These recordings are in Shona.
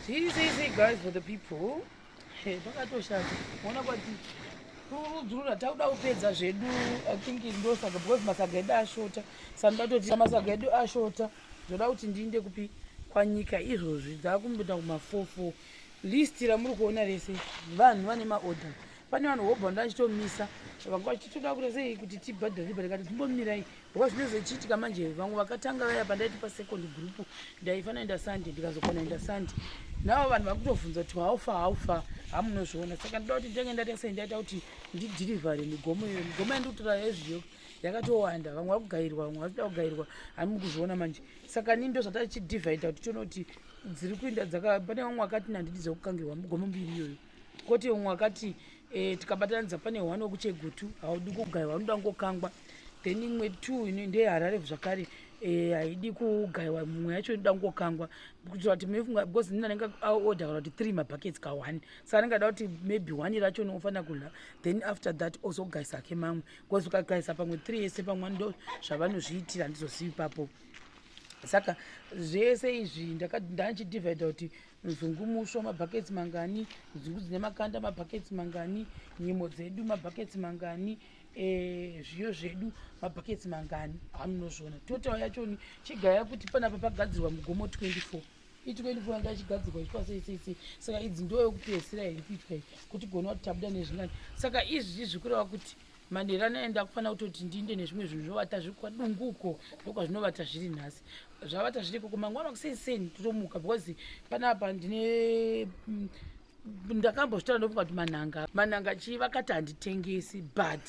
See, see, see, guys, for the people. Hey, pakatoshata. Ona kwati kurudzurura takuda kupedza zvedu i think ndosaga because masaga edu ashota sanoda kutoti masaga edu ashota zvoda kuti ndiinde kupi kwanyika izvozvi dzakumboita kumafofo list ramuri kuona rese vanhu vane maorder pane vanhu hobva ndandichitomisa vanga vachitoda kure sei kuti tibhadhare bhadhare kati timbomirai Ngoba zvinenge zvichiitika manje vamwe vakatanga vaya pandaiti pasecond group ndaifanira enda Sunday ndikazokona enda Sunday. Navo vanhu vari kutovhunza kuti how far how far hamunozviona saka ndoda kuti nditange ndaita sei ndaita kuti ndidhirivhare migomo iyoyo. Migomo yandikutora yezviyo yakatowanda vamwe vari kugairwa vamwe vari kuda kugairwa hani muri kuzviona manje saka nini ndo zvatachidhivhaidha kuti tione kuti dziri kuinda dzaka pane vamwe vakati nandidi dzekukangirwa migomo mbiri iyoyo. Koti umwe wakati eh, tikabatanidza pane one wekuchegutu haudi kugaiwa unoda kungokangwa then imwe two ino ndeyeharare zvakare eh, haidi eh, kugaiwa mumwe yacho inoda kungokangwa kuitira kuti mefunga because nini anenge aorder kana kuti three mabuckets ka one sa anenge ada kuti maybe one racho unofanira kudla then after that ozogaisa ake mamwe because ukagaisa pamwe three yese pamwe ndo zvavanozviitira handizozivi papo saka zvese izvi ndandidivida kuti nzungu muswa mabhaketsi mangani nzungu dzine makanda mabhaketsi mangani nyimo dzedu mabhaketsi mangani eh, zviyo zvedu mabhaketsi mangani amunozviona total yachoni chigaya kuti panapa pagadzirwa mugomo 24 i24 yanga ichigadzirwa ichitwa sei sei sei saka idzi ndo yokupedzisira here kuitwa iyi kuti gona kuti tabuda nezvingani saka izvi zvikureva kuti manherani aenda kufanira kutoti ndinde nezvimwe zvinhu zvovata zviri kwadungu uko ndokwazvinovata zviri nhasi zvavata zviri ikoko mangwana kuseni seni totomuka because panapa ndine mm, ndakambozvitara ndofunga kuti manhanga manhanga chii vakati handitengesi but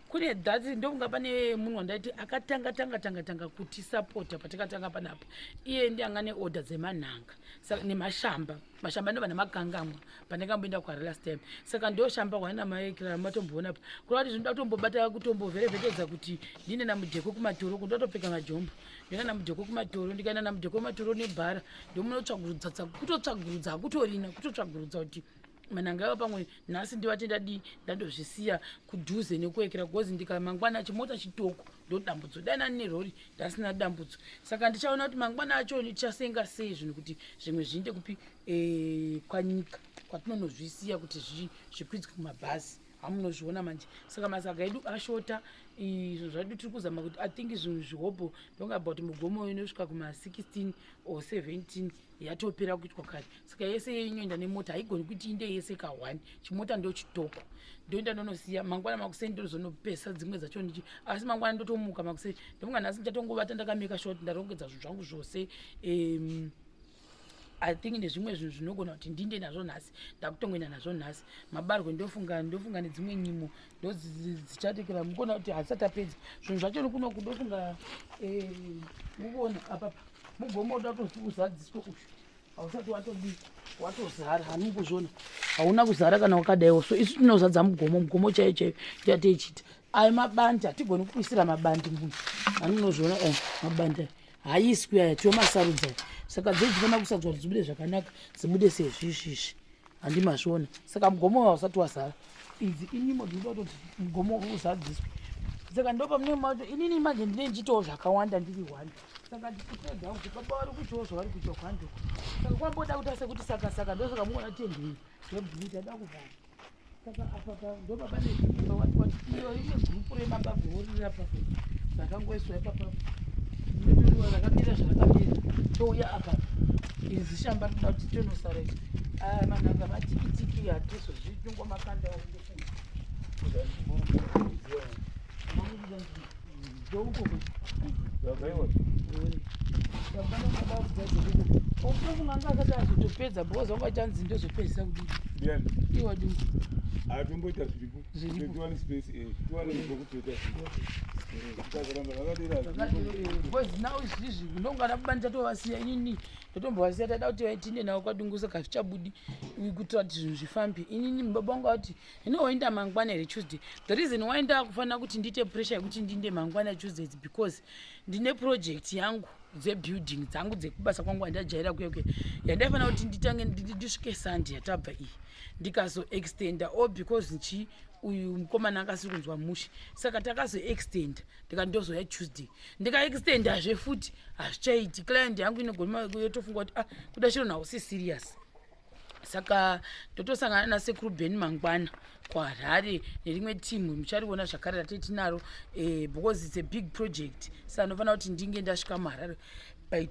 kune that ndofunga pane munhu wandaiti akatanga tanga tanga tanga kutisapota patakatanga panapa iye ndi anga neorder dzemanhanga nemashamba so, mashamba ndo vana makangamwa pane kamboenda kwari last time saka ndo shamba hwana maekira matomboona pa kuri vati zvinoda kutombobata kutomboverevekedza kuti ndine namudheko kumatoro kundo topfeka majombo ndina namudheko kumatoro ndikaenda namudheko kumatoro nebhara ndomunotsvagurudza kutotsvagurudza hakutorina kutotsvagurudza kuti mananga ava pamwe nhasi ndivatendadii ndandozvisiya kudhuze nekuekera bcoz ndikamangwana chimota chitoko ndodambudzo dai nani nerori ndasina dambudzo saka ndichaona kuti mangwana acho ndichasenga sei zvinhu kuti zvimwe zviinde kupi eh, kwanyika kwatinonozvisiya kuti zvikwidzwe kumabhazi hamunozviona manje saka masaga edu ashota izvo zvadu tiri kuzama kuti i think zvinhu zvihobho ndongabva kuti mugomo inosvika kuma 16 or 17 yatopera kuitwa kare saka yese yeinoenda nemota haigoni kuti inde yese ka one chimota ndo chitoko ndoenda ndonosiya mangwana makuseni ndozonopesa dzimwe dzacho ndichi asi mangwana ndotomuka makuseni ndomuka nhasi ndichatongovata ndakameka short ndarongedza zvinhu zvangu zvose um, i think nezvimwe zvinhu zvinogona kuti ndinde nazvo nhasi ndakutongoenda nazvo nhasi mabarwe ndofunga ndofunga nedzimwe nyimo ndodzichatekera mukona kuti hazisati apedza zvinhu zvacho nikunoku ndofunga eh, mukona apapa mugomo uda kutozi uzadziswe uyu hausati watodii watozara hani kuzvona hauna kuzara kana wakadaiwo so isu tinozadza mugomo mugomo chaiyo chaiyo yateichita ayo mabandi hatigoni kuisira mabandi munhu hani unozviona eh, mabandi ayo haiswi aya tiwo masarudza saka dzei dzifana kusadzwa kuti dzibude zvakanaka dzibude sezvizvizvi handimazviona saka mugomo hausati wazara idzi inimo dzinoda kutoti mugomo uzadziswe saka ndopamunemato inini manje ndine ndichitawo zvakawanda ndiri hwanda saka ndikupedza kuti baba vari kutyawo zvavari kutya kwando saka kwamboda kuti ase kuti saka saka ndosaka muona tendei zvebhuu tada kuvhara saka apapa ndobaba neimba watiwatiyo ine gurupu remaba goorira papa rakangoiswa ipapa ndoriwa rakamira zvarakamira touya apa izi shamba rinoda kuti tonosara ichi ah, manhanga matikitiki hatiso zvitungo makanda wakutofunga atomboita zviripotiwani space tiwane zvokupeta because now izvizvi ndongada kubani tatovasiya inini ndotombovasiya taida kuti tinde navo kwadungusa kazvichabudi kuitira kuti zvinhu zvifambe inini baba vangu vati Hino wainda mangwana here Tuesday? The reason why ndakufanira kuti ndiite pressure yekuti ndinde mangwana Tuesday is because ndine project yangu dzebuilding dzangu dzekubasa kwangu andajaira kuya kuya yandaifanira kuti nditange ndisvike sunday yatabva iyi ndikazoextenda o because nchi uyu mukomana akasiri kunzwa mushe saka takazoextenda ndika ndozoya tuesday ndikaextendazve futi hazvichaiti client yangu inogona yotofunga kuti ah kuda chiro nawo si serious saka ndotosangana nasekuru ben mangwana kuharare nerimwe team muchariona zvakare ratei tinaro eh, because its a big project sa anofanira kuti ndinge ndasvika muharare by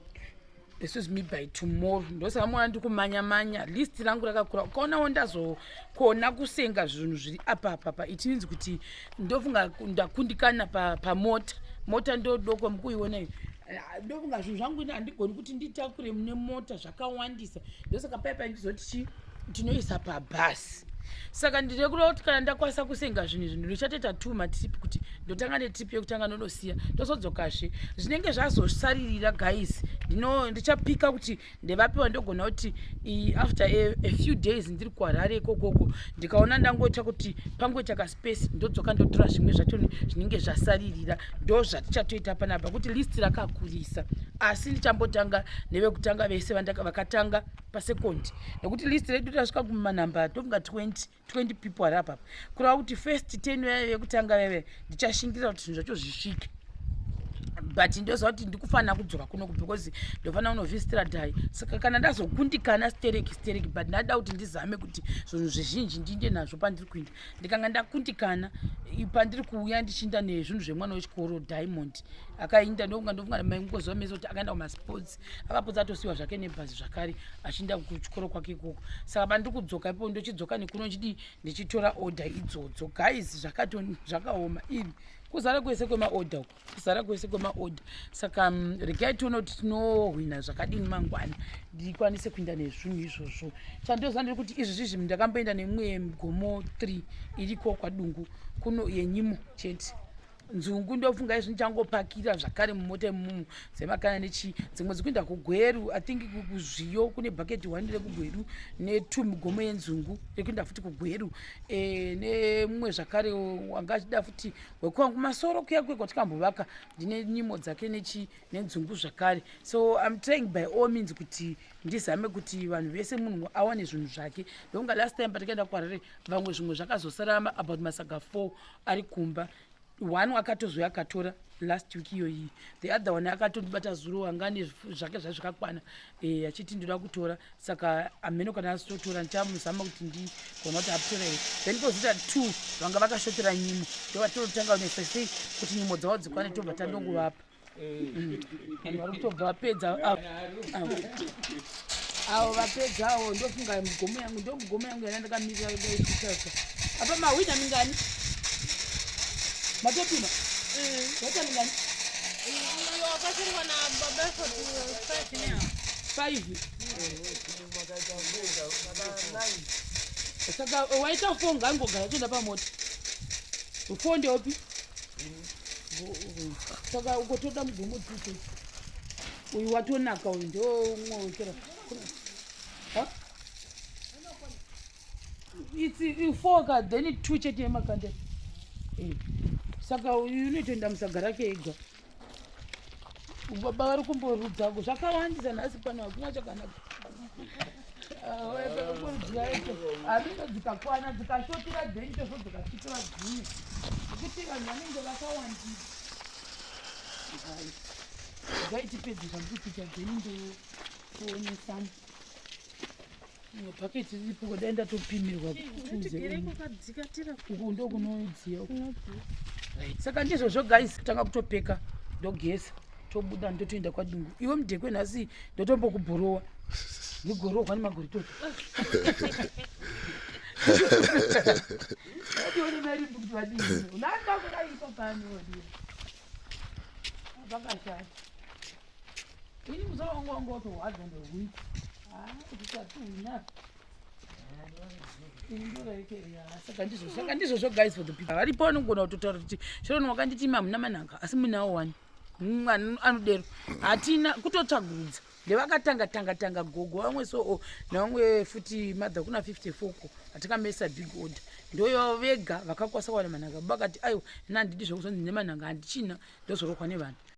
excuse me by tomorrow ndosaka mwana ndikumanya manya list rangu rakakura ukaonawo ndazokona kusenga zvinhu zviri apa papa it means kuti ndofunga ndakundikana pamota pa mota ndodoko mukuiona iyo eh, ndofunga zvinhu zvangu ini handigoni kuti nditakure mune mota zva akawandisa ndosaka paya paindizoti chi ndinoisa pabhasi saka ndiri kuda kuti kana ndakwanisa kusenga zvinhu izvi ndinochatoita two matrip kuti ndotanga netrip yekutanga ndonosiya ndozodzokazve zvinenge zvazosaririra guys ndino ndichapika kuti ndevapiwa ndogona kuti after a, a few days ndiri kuharare ikokoko ndikaona ndangoita kuti pangoita kas pese ndodzoka ndotora zvimwe zvacho zvinenge zvasaririra ndo zvatichatoita panapa kuti list rakakurisa asi ndichambotanga nevekutanga vese vakatanga pasekondi nekuti list redu tasvika kumanamba tofunga 20 20 people ari apapa kureva kuti first ten vaive vekutanga vaive ndichashingirira kuti zvinhu zvacho zvisvike but ndoziva kuti ndikufanira kudzoka kuno because ndofanira kunovhistira dai saka kana ndazokundikana stereki stereki but ndada kuti ndizame kuti zvinhu zvizhinji ndiinde nazvo pandiri kuinda ndikanga ndakundikana pandiri kuuya ndichiinda nezvinhu zvemwana wechikoro diamond akainda ndokunga ndofunga mai mukoziva mese kuti akaenda kumasports akapotsa atosiyiwa zvake nebhazi zvakare achiinda kuchikoro kwake ikoko saka pandiri kudzoka ipo ndochidzoka nekuno chidii ndichitora order idzodzo guys zvakaoma iri kuzara kwese kwemaorder uku kusara kwese kwemaorder saka mm, regai tiona kuti tinohwina zvakadini mangwana ndikwanise kuinda nezvinhu izvozvo chandoziva ndiri kuti izvi zvizvi ndakamboenda nemumwe gomo three iriko kwadungu kuno yenyimo chete nzungu ndofunga izvi ndichangopakira zvakare mumota imumu dzemakana nechii dzimwe dzikuenda kugweru i think kuzviyo kune bucket one rekugweru netwo migomo yenzungu rekuenda futi kugweru e, nemumwe zvakare wanga achida futi wekuva kumasoro kuya kuya kwatikambovaka ndine nyimo dzake nechi nenzungu zvakare so im trying by all means kuti ndizame kuti vanhu vese munhu awane zvinhu zvake ndokunga last time patakaenda kwarere vamwe zvimwe zvakazosarama about masaga four ari kumba one akatozouya akatora last week iyoyi the other one akatondibata zuro anga ane zvake zvaizvakakwana e, achiti ndoda kutora saka amheno kana asitotora ndichamuzama kuti ndigona kuti aptora here then kozita two vanga vakashotera nyimo ndovatinotanga kunetsa sei kuti nyimo dzavo dzikwane tobva tandongovapa mm. vanhu vari kutobva vapedza avo vapedzawo ndofunga mugomo yangu ndo mugomo yangu yana ndakamirira daisasa apa mahwina mingani matopima mm. wata mingani Five. Saka waita four ngangogara toenda pamota. Four ndeopi? Saka ukotoda mugomo dzito. Uyu watonaka uyu ndo umwe wekera. Huh? It's uh, four ka then two chete yemakande. Eh. Saka uyu unotoenda musagara keega. baba vari kumborudza ko zvakawandisa nhasi pano hakuna chakanaka hazvinge dzikakwana dzikashotira dhenje zvo dzikasvikira dzimwe nekuti vanhu vanenge vakawandisa zvaitipedzi zvamkukucha dhenje kuonesana paketi riripo kudai ndatopimirwa uku ndokunodziya saka ndizvo zvo guys kutanga kutopeka ndogeza tobuda ndotoenda kwadungu iwe mudhekwe nhasi ndotombokubhorowa ndigorohwa nemagoritoto Vakashata. Ini musaongo ngo to hard on the week. Ah, kuchatu ina. Saka ndizvo saka ndizvo zvo guys for the people. Vari pano ngona kutotaura kuti chero ni wakanditi mamuna manaka asi muna wani. Mwana anodero. Hatina kutotsvagudza. ndevakatanga tanga tanga gogo vamwe so oh, navamwe futi mother kuna 54 ko atikamesa big order ndoyo vega vakakwasa kuwana manhanga vakati aiwa ina handidi zvekuzonzi nemanhanga handichina ndozorokwa nevanhu